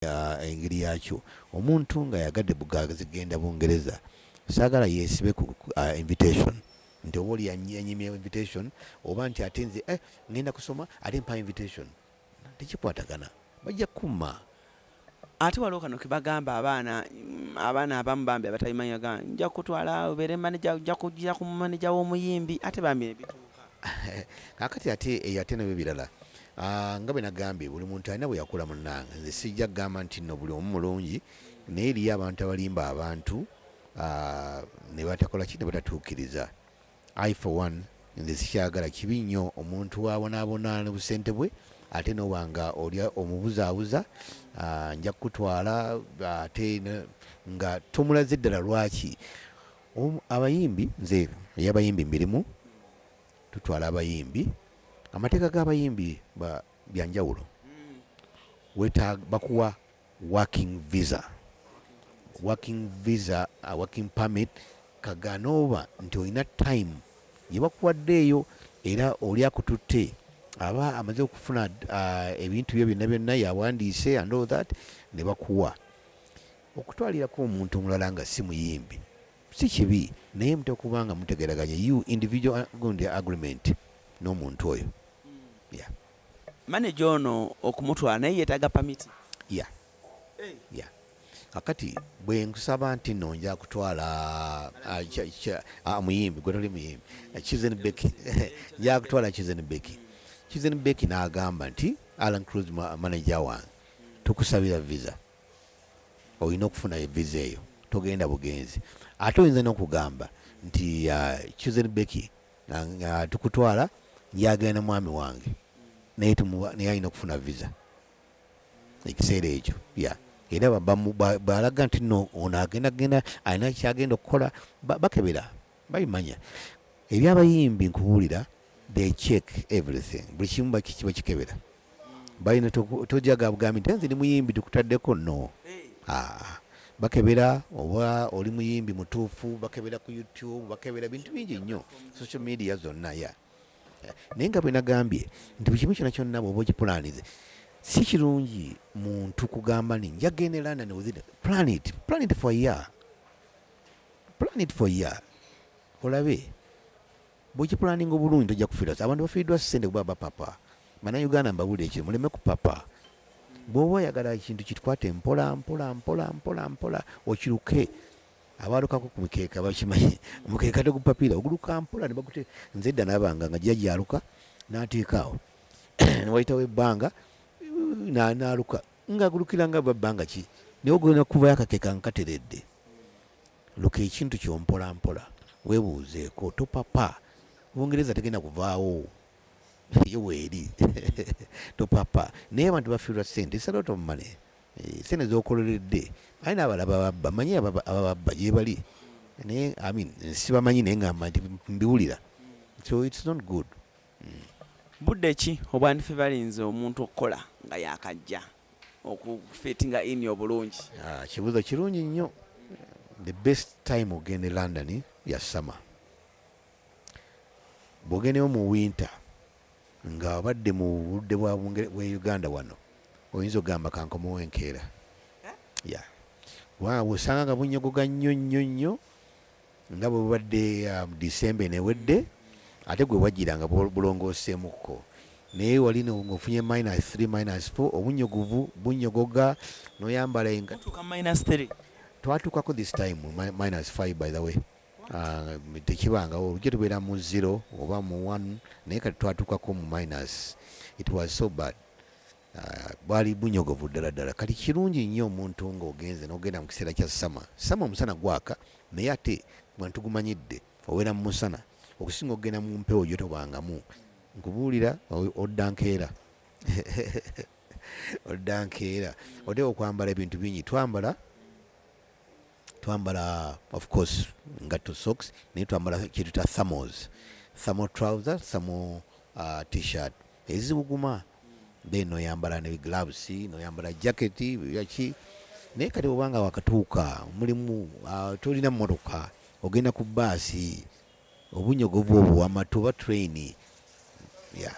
engeri yakyo omuntu nga yagade bugazigenda bungereza sagala yesibe ku uh, invitation nti oba oli yanyimye invitation oba nti ate nze eh, ngenda kusoma ate mpa invitation tekikwatagana bajja kukuma ate waliwo kano kebagamba abaana abaana abamu bambi abatabimanyaga nja kutwala obeere maneja nja kujja ku maneja w'omuyimbi ate bambi nebituuka kakati ate eyo ate nabyo birala Ah, nga bwe nagambye buli muntu alina bwe yakula munnange nze sijja kugamba nti no buli omu mulungi naye eriyo abantu abalimba abantu ah, ne batakola ki ne batatuukiriza i for one nze sikyagala kibi nnyo omuntu wabonaabona ne busente bwe ate noba nga olya omubuzaabuza ah, nja kukutwala ate nga tomulaze ddala lwaki abayimbi nze eyabayimbi mbirimu tutwala abayimbi amateeka g'abayimbi byanjawulo wetaaga bakuwa working visa working visa uh, working permit kagana oba nti olina time yebakuwaddeeyo era oli akututte aba amaze okufuna uh, ebintu byo byonna byonna yawandiise and all that ne bakuwa okutwalirako omuntu omulala nga si muyimbi Si kibi naye mtokuba nga mutegeraganye you individual gundi agreement n'omuntu oyo. Yeah. Manager ono okumutwala naye yetaga permit. Yeah. Hey. Yeah. Kakati bwe nkusaba nti no nja kutwala ah, ah, muyimbi gwe toli muyimbi ah, Chizen Becky nja kutwala Chizen Becky Chizen Becky n'agamba nti Alan Cruz manager wange tukusabira visa olina okufuna eviza eyo togenda bugenzi ate oyinza nokugamba nti uh, chusen beki uh, uh, tukutwala yagenda mwami wange naye naye alina okufuna viza ekiseera ekyo ya era balaga nti no ono agenda genda alina kyagenda okukola bakebera babimanya ebyabayimbi nkubuulira they check everything buli kimu bakikiba kikebera balina tojaga bugambi nti nze ndi muyimbi tukutaddeko no ah, bakebera oba oli muyimbi mutuufu bakebera ku youtube bakebera bintu bingi nnyo social media zonna ya naye nga bwenagambye nti buli kimu kyona kyonna bwoba okipulanize si kirungi muntu kugamba ni njagenda elanda niwithin planet planet for year Plan it for year olabe bwekipulaninga obulungi tojja kufiirwa abantu bafiiriddwa ssente kuba bapapa banauganda mbabulira ekyo muleme kupapa bwoba oyagala ekintu kikwate mpola mpola mpola mpola mpola okiruke abalukako ku mikeeka bakimanyi omukeeka tegupapiira oguluka mpola nebakute nze edda nabanga nga gya gyaluka nateekaawo newayitawo ebbanga naluka nga agulukira nga bwa bbanga ki naye ogenda kuvayo akakeka nkateredde luka ekintu kyompola mpola webuuzeeko topapa bungereza tegenda kuvaawo yo weeri topapa naye abantu bafiirwa sente salot of money eh, sente zokololedde aye nabalaba babba manyi abababba gyebali naye amin sibamanyi naye ngamba nti mbiwulira so its not good Budde ki obwandife balinze omuntu okukola nga yakajja okufitinga ini obulungi? Ah, kibuuzo kirungi nnyo. The best time ogenda e London ya summer. Bwogendeyo mu winter nga abadde mu budde bwa Uganda wano oyinza ogamba kankomewo enkeera. Eh? Yeah. Waawo osanga nga bunyogoga nnyo nnyo nnyo. Nga bwe bubadde um, December eno ewedde ate gwe wajjira nga bulongooseemukko naye wali ng'ofunye minus 3 minus 4 obunnyogovu bunnyogoga n'oyambala enga twatuukako this time minus 5 by the way Ah, tekibangawo olujja tubeera mu zero oba mu one naye kati twatuukako mu minus it was so bad Ah, bwali bunyogovu ddala ddala kati kirungi nnyo omuntu ng'ogenze n'ogenda mu kiseera kya sama sama omusana gwaka naye ate bantu gumanyidde owera mu musana okusinga okugenda mu mpewo gyo tobangamu nkubuulira odda nkeera odda nkeera oteeka okwambala ebintu bingi twambala twambala of course ngatto socks naye twambala kyetuta thamos thamo trouser thamo uh, t-shirt ezibuguma then noyambala ne gloves noyambala jacket yaki naye kati obanga wakatuuka mulimu uh, tolina mmotoka ogenda ku baasi Obunyogovu obwo wama toba train yeah.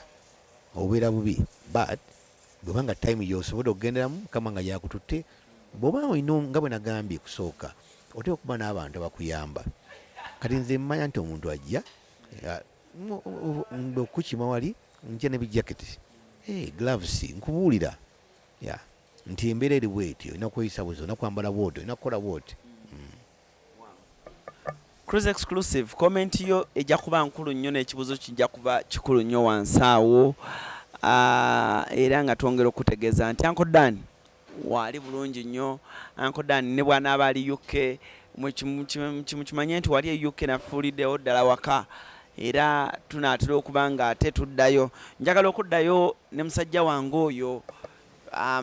Obeera bubi but bweba nga time yosobodde okugenderamu kama nga yakututte bwoba olina nga bwe nagambye kusooka oteeka okuba n'abantu abakuyamba kati nze mmanya nti omuntu ajja okukima wali nja ne bijaketi eh, gloves nkubuulira nti embeera eri bwetyo olina kweyisa buzi olina kwambala bwoti olina kukola bwoti Cruise exclusive comment yo ejja kuba nkulu nnyo n'ekibuuzo kijja kuba kikulu nnyo wansi awo ah, era nga twongera okutegeeza nti Uncle Dan waali bulungi nnyo Uncle Dan ne bw'anaaba ali UK mukimanye nti wali e UK nafuuliddewo ddala waka era tunaatera okuba nga ate tuddayo njagala okuddayo ne musajja wange oyo ah,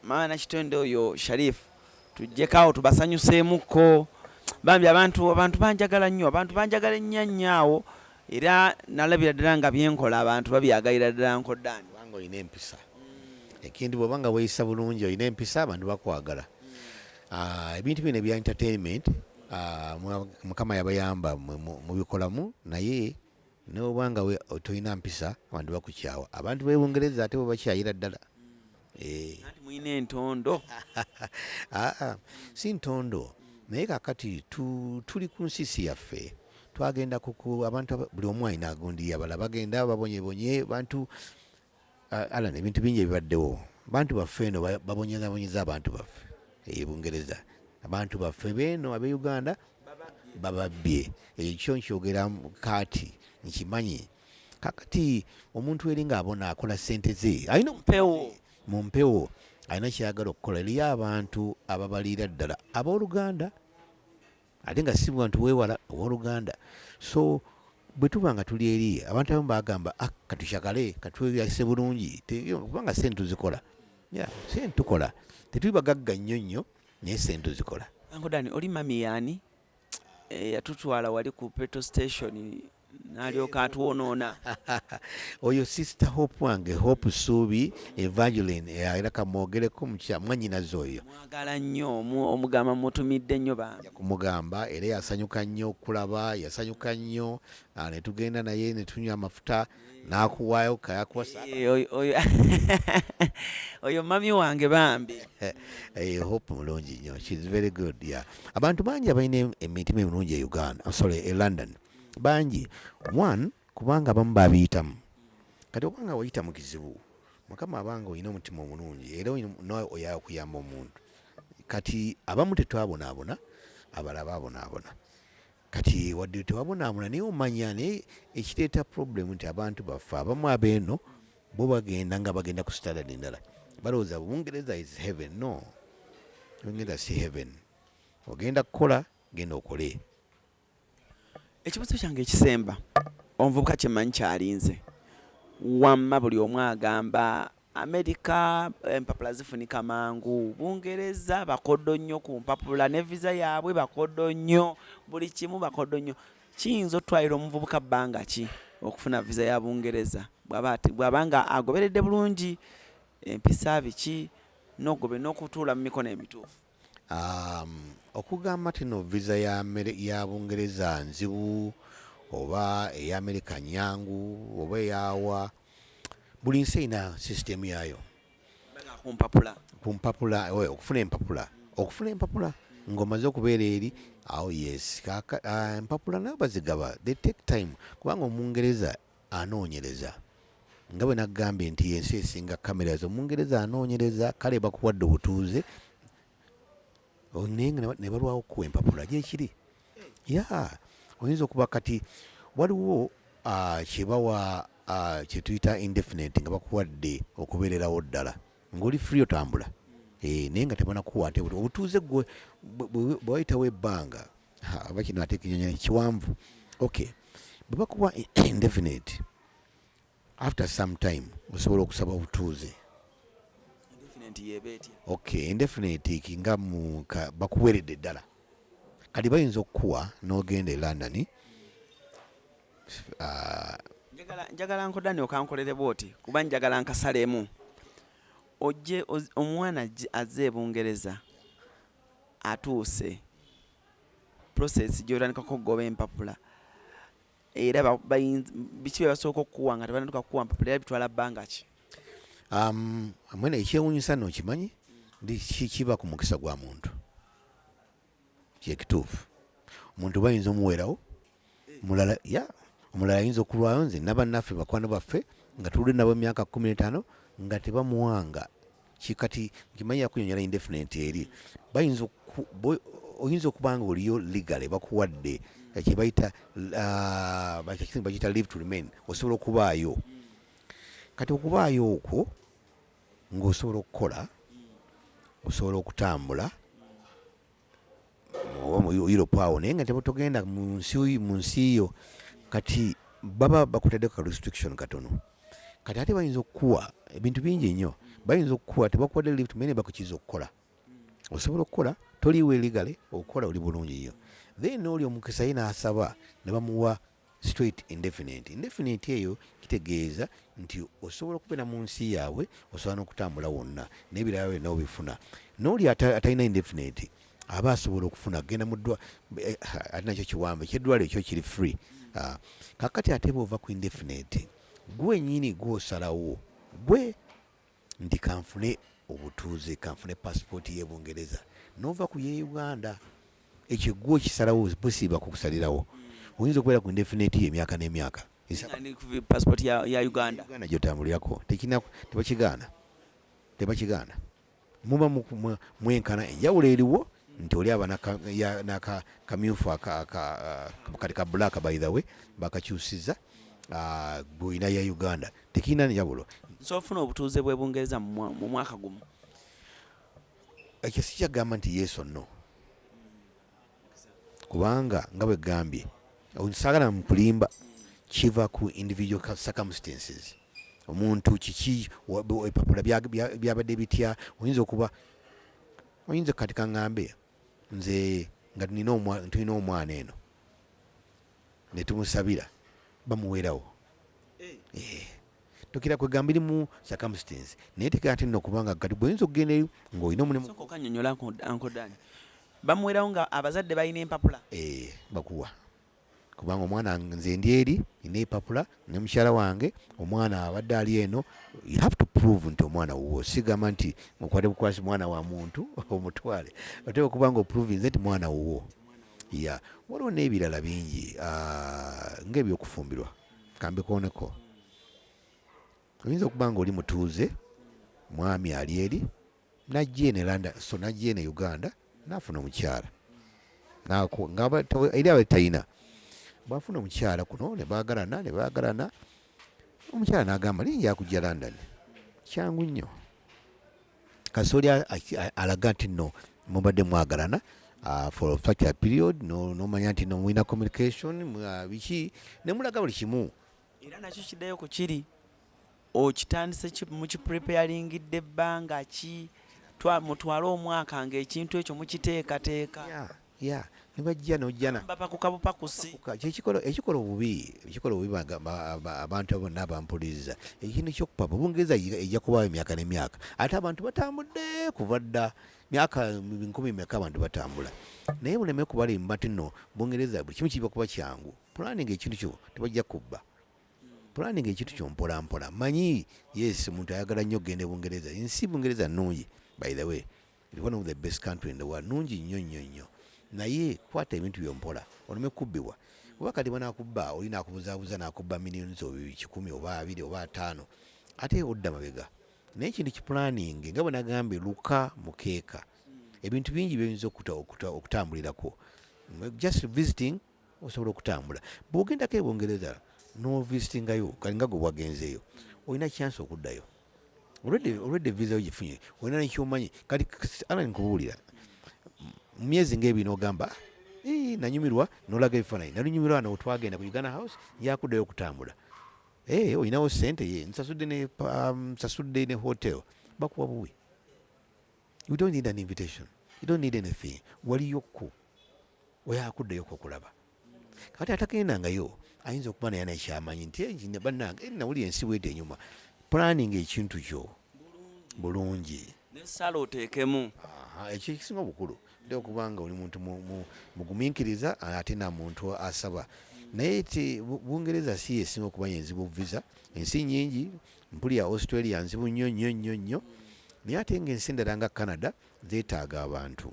maana kitende oyo Sharifu tujjeko awo tubasanyuseemukko bambi abantu abantu banjagala nnyo abantu banjagala ennyo nnyo awo era nalabira ddala nga byenkola abantu babyagalira ddala nkodaani kubanga olina empisa mm. ekintu bwoba nga weyisa bulungi olina empisa abantu bakwagala mm. ah, ebintu bino ebya entertainment ah, mukama yabayamba mubikolamu naye Newebwa nga we otolina mpisa abantu bakukyawa. Abantu be Bungereza ate bakyayira ddala. Eh. Nanti muyina entondo. Ah, ah. Si ntondo. Naye kakati tu, tuli ku nsisi yaffe. Twagenda kuku abantu buli omu alina agundi yabala bagenda babonye bonye bantu Ah, Alan, ebintu bingi ebibaddewo bantu baffe eno ba- babonyezabonyeza abantu baffe e bungereza abantu baffe beeno abe uganda bababbye ekyo kyo nkyogera mu- kaati nkimanyi kakati omuntu eri ng'abona akola sente ze alina mpewo mu mpewo alina kyeyagala okukola eriyo abantu ababaliira ddala abooluganda ate nga si bantu wewala owoluganda so bwe tuba nga tuli eri abantu abamu bagamba ah, katushakale katweyase bulungi kubanga sente tuzikola sente tukola tetuli bagagga nnyo nnyo naye sente tuzikola ankodani oli mami yaani eyatutwala eh, wali ku petrol station nalyoka atwonoona oyo sister hope wange hope suubi evangelin eh, era kamwogereko mukya mwanyinazi oyo mwagala nnyo omugamba mutumidde nnyo bambi kumugamba era yasanyuka nnyo okulaba yasanyuka nnyo ah, netugenda naye netunywa amafuta nakuwayo kayakwasa eh, oyo mami wange bambi eh, hope mulungi nnyo shes very good yeah. abantu bangi abalina emitima emirungi e uganda sorry e london bangi one kubanga abamu babiyitamu kati obanga wayita mu kizibu mukama abanga olina omutima omulungi era nawe oyaya okuyamba omuntu kati abamu tetwabonaabona abala babonaabona kati wadde tewabonaabona naye omanya naye ekireeta problemu nti abantu baffe abamu abeeno bo bagenda nga bagenda ku standard endala balowooza bungereza is heaven no bungereza si heaven ogenda kukola genda okole ekibuzo kyange ekisemba omuvubuka kyemanyi kyalinze wamma buli omu agamba amerika empapula zifunika mangu bungereza bakodo nnyo ku mpapula ne visa yaabwe bakodo nnyo buli kimu bakodo nnyo kiyinza otwalira omuvubuka bbanga ki okufuna visa ya bungereza bwaba nga agoberedde bulungi empisa biki nogobe n'okutuula mu mikono emituufu Um, okugamba tino visa ya, ya bungereza nzibu oba eya amerika nyangu oba eyawa buli nsi erina sisitemu yayo kumpapula eh, okufuna empapula okufuna empapula ngaomaze okubeera eri awo yes ah, empapula nayo bazigaba they take time kubanga omungereza Anoonyereza. Nga bwe nagambye nti y'ensi esinga cameras omungereza anoonyereza kale bakuwadde obutuuze oh, naye nga ne balwawo okukuwa empapula gyekiri ya oyinza okuba kati waliwo ah, kyebawa ah, kyetuyita indefinite nga bakuwadde okubeererawo ddala ng'oli free otambula eh, naye nga tebanakuwa ate obutuuze gwe bwewayitawo ebbanga oba kino ate kinyanya kiwanvu okay bwe bakuwa indefinite after some time osobola okusaba obutuuze okay indefinite kinga mu bakuweredde ddala kati bayinza okukuwa n'ogenda e london uh, njagala nkodani okankolere bwoti kuba njagala nkasalemu ojje omwana azze ebungereza atuuse process gyotandikako okugoba empapula era biki byebasooka okukuwa nga tebanatuka kukuwa mpapula era bitwala bbanga ki um, mwena ekyewunyisa no okimanyi ndi kiba ku mukisa gwa muntu kyekituufu omuntu bayinza omuweerawo mulala ya omulala ayinza okulwayo nze nabannaffe bakwano baffe nga tuludde nabo emyaka kumi n'etaano nga tebamuwanga kikati nkimanyi yakunyonyola indefinite eri bayinza oyinza okuba nga oliyo legale bakuwadde kyebayita ah, bakiyita live to remain osobola okubaayo kati okubaayo okwo ng'osobola okukola osobola okutambula oba mu Europe awo naye nga tebutogenda mu nsi mu nsi yo kati baba bakutadde ka restriction katono kati ate bayinza okukuwa ebintu bingi nnyo bayinza okukuwa tebakuwadde lift mene bakukiza okukola osobola okukola toliiwo eligale okukola oli bulungi nnyo then oli omukisa ye n'asaba ne bamuwa straight indefinite indefinite eyo kitegeeza nti osobola okubeera mu nsi yaabwe osobola n'okutambula wonna n'ebirala byonna obifuna n'oli atalina indefinite aba asobola okufuna genda muddwa eh, ate nakyo kiwambe kyeddwalo ekyo kiri free ah, kakati ate bwova ku indefinite gwenyini gwosalawo gwe nti kanfune obutuuze kanfune passport ye bungereza nova ku ye uganda ekyo gwo kisalawo busiba kukusalirawo oyinza okubeera ku indefinite ye emyaka n'emyaka passport ya, ya uganda uganda gyotambulirako tekina tebakigaana tebakigaana muba mwenkana enjawulo eriwo nti oli aba nakamyufu kati ka black by the way bakakyusiza gwolina ah, ya uganda tekirina njawulo nsobola ofuna obutuuze bwe bungereza mu mwaka gumu ekyo sikyagamba nti yesu no kubanga nga bwe gambye sagala mukulimba kiva ku individual circumstances omuntu kiki epapula byabadde bitya oyinza okuba oyinza kati kaŋambe nze nga tulina omwana eno netumusabira bamuwerawo eh. tokira kwegamba iri mu circumstance naye tekera ate nno kubanga kati bwoyinza okugenda eyo ng'olina omulimukanyonyola ankodani bamuwerawo nga abazadde balina empapula eh, bakuwa kubanga omwana nze ndi eri nina epapula ne mukyala wange omwana abadde ali eno you have to prove nti omwana wuwo sigamba nti mukwate bukwasi mwana wa muntu omutwale oteeka okubanga oprovinze nti mwana wuwo ya waliwo n'ebirala bingi ah, ng'ebyokufumbirwa kambikooneko oyinza okuba nga oli mutuuze mwami ali eri najja eno elanda so najja eno e uganda nafuna omukyala eri aba talina bwafuna omukyala kuno nebagalana nebagalana omukyala nagamba naye njakujja london kyangu nnyo kasooli alaga nti no mubadde mwagalana uh, for such a period nomanya nti no mulina communication uh, biki nemulaga buli kimu era nakyo kiddayo ku kiri okitandise mukipreparingidde ebbanga ki mutwale omwaka ngaekintu ekyo mukiteekateeka ya nebajja nojana bapakuka bupakusi kyekikola ekikola obubi ekikola obubi abantu abo nabo bampuliriza ekintu kyokupa bubungereza ejja kubaawo emyaka nemyaka ate abantu batambudde kuva dda myaka nkumi meka abantu batambula naye muleme kubalimu bati no bungereza buli kimu kiba kuba kyangu pulaninga ekintu kyo tebajja kubba pulaninga ekintu kyo mpolampola manyi yes omuntu ayagala nnyo okugenda e bungereza ensi bungereza nnungi by the way one of the best country in the world nungi nnyo nnyo nnyo naye kwata ebintu byompola oleme kubbibwa oba kati banakubba oli nakubuzabuza nakubba millions kikumi oba abiri oba ataano ate odda mabega naye ekintu kipulaninge nga bwenagambye luka mukeeka ebintu bingi byoyinza okutambulirako just visiting osobola okutambula bwogendako ebungereza novisitingayo kalinga gwe wagenzeeyo olina chance okuddayo olwedde visa yo gifunye olina nekyomanyi kati alan kubuulira mu myezi ngaebiri nogamba nanyumirwa nolaga ebifaananyi nalunyumirwa no twagenda ku uganda house yakuddayo okutambula eh, olinawo sente ye nsasudde ne um, nsasudde ne hotel bakuwa buwi you don't need an invitation you don't need anything waliyo ku oyakuddeyo kokulaba kati atagendangayo ayinza okuba naye nakyamanyi nti eh, banange eh, nawuli ensi bwede enyuma planning ekintu kyo bulungi nesala otekemu ekyo ekisinga obukulu nti okubanga oli muntu muguminkiriza ate na muntu asaba naye ti bungereza si esinga okuba yenzibu visa ensi nyingi mpulira australia nzibu nnyo nnyo nnyo nnyo naye ate nga ensi endala nga canada zetaaga abantu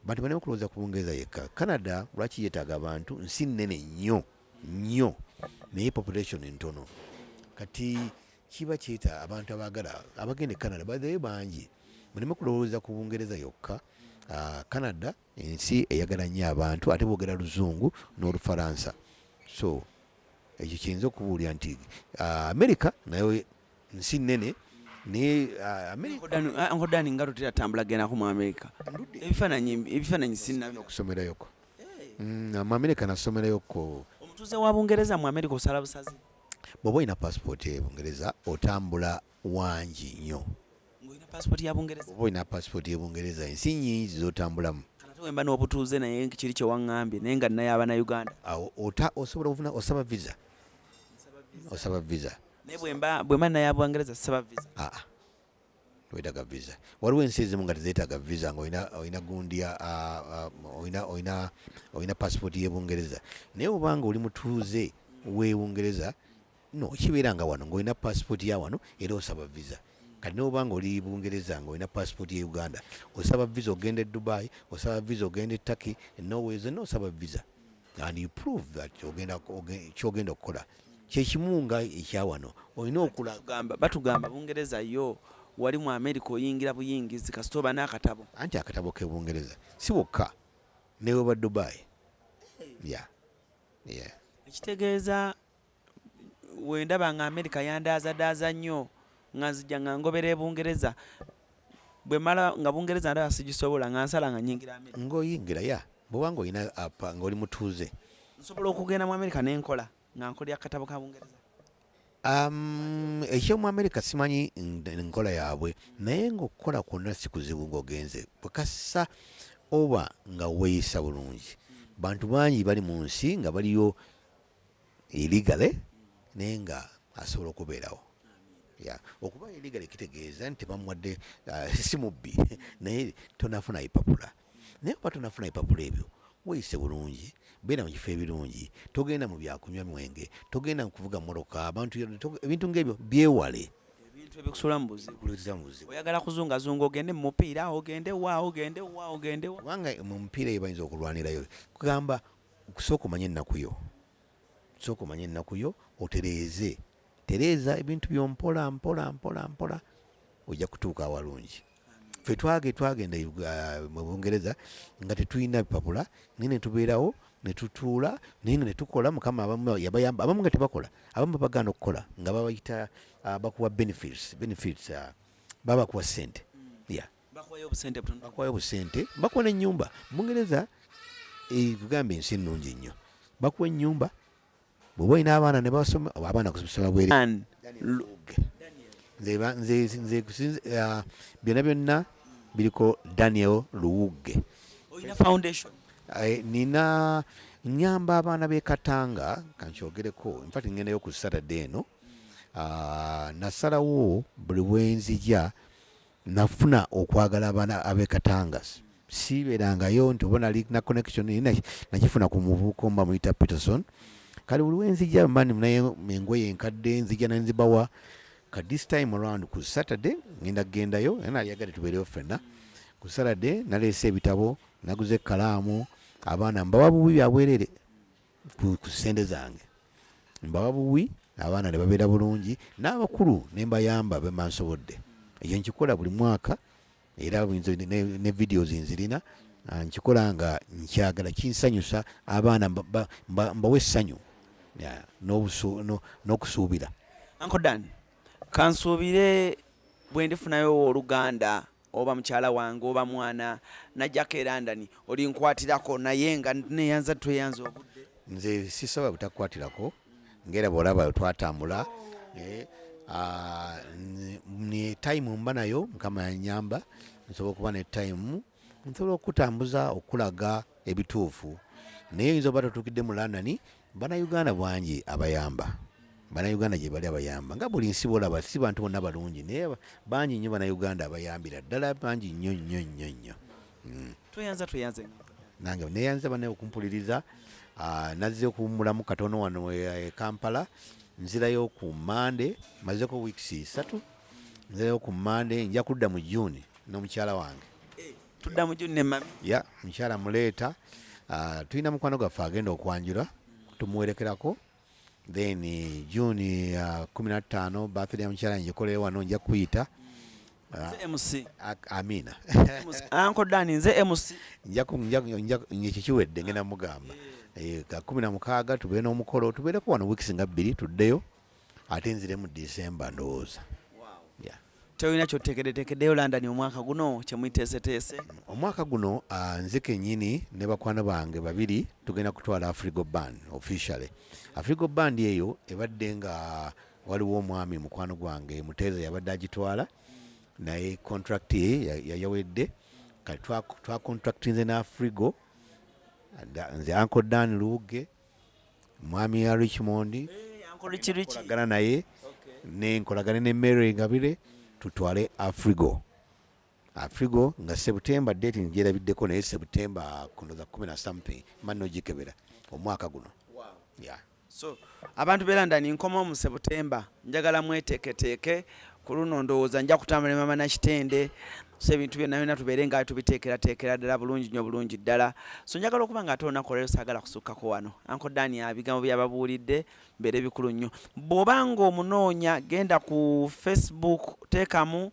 bantu balina okulowooza ku bungereza yekka canada lwaki yetaaga abantu nsi nnene nnyo nnyo naye population ntono kati kiba kyeta abantu abagala abagenda e canada bathe bangi muleme kulowooza ku bungereza yokka ah, canada ensi eyagala nnyo abantu ate boogera luzungu n'olufaransa so ekyo kiyinza okubuulira nti ah, amerika nayo nsi nnene nayeenkodani ah, ah, nga tutera tambula genako mu amerika ebifaananyi sinaokusomerayoko mm, mu amerika nasomerayoko omutuuze wa bungereza mu amerika osala busazi bwoba olina passport e bungereza otambula wangi nnyo ng'olina paasipooti ya bungereza oba olina paasipooti ye bungereza ensi nyingi zotambulamu wemba n'obutuuze naye kiri kyewaŋŋambye naye nga nnaye aba na uganda awo ota osobola ofuna osaba visa osaba visa naye bwemba bwemba naye abwangereza sisaba visa aa ah, ah. wetaga visa waliwo ensi ezimu nga tezetaga visa nga olina olina gundi ah, olina olina olina paasipooti y'ebungereza naye obanga oli mutuuze w'ebungereza no kibeera nga wano ng'olina passport ya wano era osaba visa kati noba nga oli bungereza nga olina passport ya uganda osaba visa ogenda e dubai osaba visa ogenda e turkey norway zonna osaba visa and you prove that ogenda kyogenda okukola kyekimu nga ekyawano olina okulagamba batugamba bungereza yo wali mu america oyingira buyingizi kasita oba n'akatabo anti akatabo ke bungereza si wokka newe ba dubai ya yeah. yeah. ekitegeeza wendaba nga amerika yandaazadaaza nnyo nga nzija nga ngobera ebungereza bwemala nga bungereza ndaba sigisobola nga nsala nga nyingira amerika ngaoyingira ya bwobanga olina apa nga oli mutuuze nsobola okugenda mu amerika nenkola nga nkolera katabo ka bungereza Um, ekyomu amerika simanyi nkola yaabwe naye ngaokukola kwonna sikuzibu ngaogenze bwekassa oba nga weeyisa bulungi bantu bangi bali mu nsi nga baliyo illegally naye nga asobola okubeerawo ya okuba illegally kitegeeza nti tebamuwadde uh, si mubbi naye tonafuna ipapula naye oba tonafuna ipapula ebyo weyise bulungi beera mu kifo ebirungi togenda mu byakunywa mwenge togenda kuvuga moroka abantu ebintu ngaebyo byewale ebintu ebikusula mu buzibu oyagala kuzungazunga ogende mu mupiira ogende wa ogende wa ogende kubanga mu mupiira eyo bayinza okulwanirayo kugamba Sooka omanye ennaku yo. Sooka omanye ennaku yo otereeze. Tereeza ebintu byo mpola mpola mpola mpola ojja kutuuka awalungi. Ffe twage twagenda uh, mu Bungereza nga tetulina bipapula naye ne tubeerawo ne tutuula naye nga ne tukola mukama abamu yabayamba abamu nga tebakola abamu babagaana okukola nga babayita uh, bakuwa benefits benefits uh, babakuwa ssente ya bakuwayo obusente butono bakuwayo obusente bakuwa n'ennyumba mungereza ekugamba eh, ensi ennungi nnyo bakuwa ennyumba bwoba olina abaana ne basoma oba abaana kusoma bwere nze ah, byonna byonna biriko daniel luwugge eh, nina nyamba abaana b'e katanga kankyogereko infat ngendayo ku saturday eno ah, nasalawo buli bwenzija nafuna okwagala abana abe katanga siibeerangayo nti oba nali na connection naye na- nakifuna ku muvubuka omu bamuyita peterson kale buli wenzija mani naye engoye enkadde nzija naye nzibawa ka this time around ku saturday ngenda kugendayo era nali yagadde tubeereyo ffenna ku saturday naleese ebitabo naguze ekkalaamu abaana mbawa bubi byabwerere ku sente zange mbawa buwi abaana ne babeera bulungi n'abakulu ne mbayamba bemba nsobodde ekyo nkikola buli mwaka era ne videos nzirina ah, nkikola nga nkyagala kinsanyusa abaana mbawa essanyu n'okusuubira ankodan kansuubire bwe ndifunayo owooluganda oba mukyala wange oba mwana najjako era ndani olinkwatirako naye nga neyanza tweyanza obudde nze sisaba butakukwatirako ngaera bwolaba twatambula eh, ah, ne time mba nayo mukama yanyamba nsobola okuba ne time nsobola okukutambuza okulaga ebituufu naye oyinza oba totukidde mu london Bana Uganda bwangi abayamba. Bana Uganda gye bali abayamba. Nga buli nsi bolaba si bantu bonna balungi naye bangi nnyo bana Uganda abayambira ddala bangi nnyo nnyo nnyo nnyo. Hmm. Tweyanza tweyanze. Nange neyanza bana okumpuliriza ah, nazze okuwummulamu katono wano e, e Kampala nzirayo ku Mande mazeko weeks satu nzirayo ku Mande nja kudda mu June n'omukyala wange. tudda mu june mami ya mukyala muleeta ah, tulina mukwano gwaffe agenda okwanjula tumuwerekerako then eh, june ah, kumi na ttaano birthday ya mukyala njikolere wano nja kuyita Ah, Nze mc ak- amina anko dani nze mc Nja ku- nja- nja- nja- ekyo kiwedde ngenda mugamba Eh, ka kumi na mukaaga tubeere n'omukolo tubeereko wano weeks nga bbiri tuddeyo ate nziremu december ndowooza Yeah. tolina kyotekedetekedeyo london omwaka guno kyemwiteeseteese omwaka guno uh, nze kenyini ne bakwano bange babiri tugenda kutwala afrigo band officially afrigo band eyo ebadde nga waliwo omwami mukwano gwange muteeza yabadde agitwala naye contract ye yayawedde kati twacontractinze ne afrigo nze anko dan luuge mwami ya richmond eh, agana naye nenkolagane ne mary ngabire tutwale afrigo afrigo nga september date njerabiddeko naye september kuno the kumi na something mani nogikebera omwaka guno wow. yeah. so abantu be london nkoma mu september njagala mweteeketeeke ku luno ndowooza nja kutambula ne mama nakitende so ebintu byonna byonna tubeere nga tubiteekerateekera ddala bulungi nyo bulungi ddala so njagala okuba nga ate olunaku olwaleero saagala kusukkako wano anko dani abigambo byababuulidde mbeere bikulu nnyo bw'oba ng'omunoonya genda ku facebook teekamu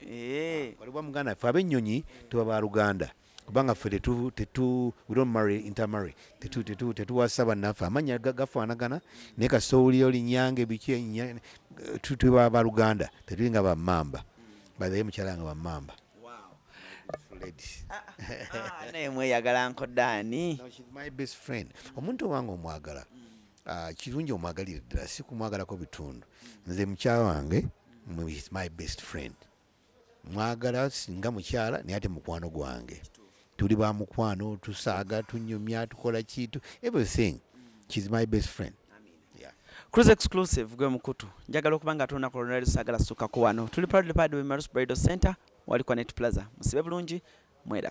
Eh. waliwo muganda ffe abennyonyi tuba ba luganda kubanga ffe tetu tetu we don't marry intermarry tetu tetu tetuwasa bannaffe amannya ga- gafaanagana naye kasita owulira oli nyange biki enya- tu- tuba ba luganda tetuli nga bamamba bazaye mukyala nga bamamba Ladies. Ah, naye mweyagala nko daani No, she's my best friend omuntu owange omwagala Ah, kirungi omwagalire ddala si kumwagalako bitundu nze mukyala wange is my best friend mwagala singa mukyala naye ate mukwano gwange tuli ba mukwano tusaaga tunyumya tukola kitu everything she's my best friend Cruise exclusive gwe mukutu njagala okuba nga tolina kolonali saagala sukako wano tuli proudly proud we Marus Bridal Center wali kwa Net Plaza musibe bulungi mweraba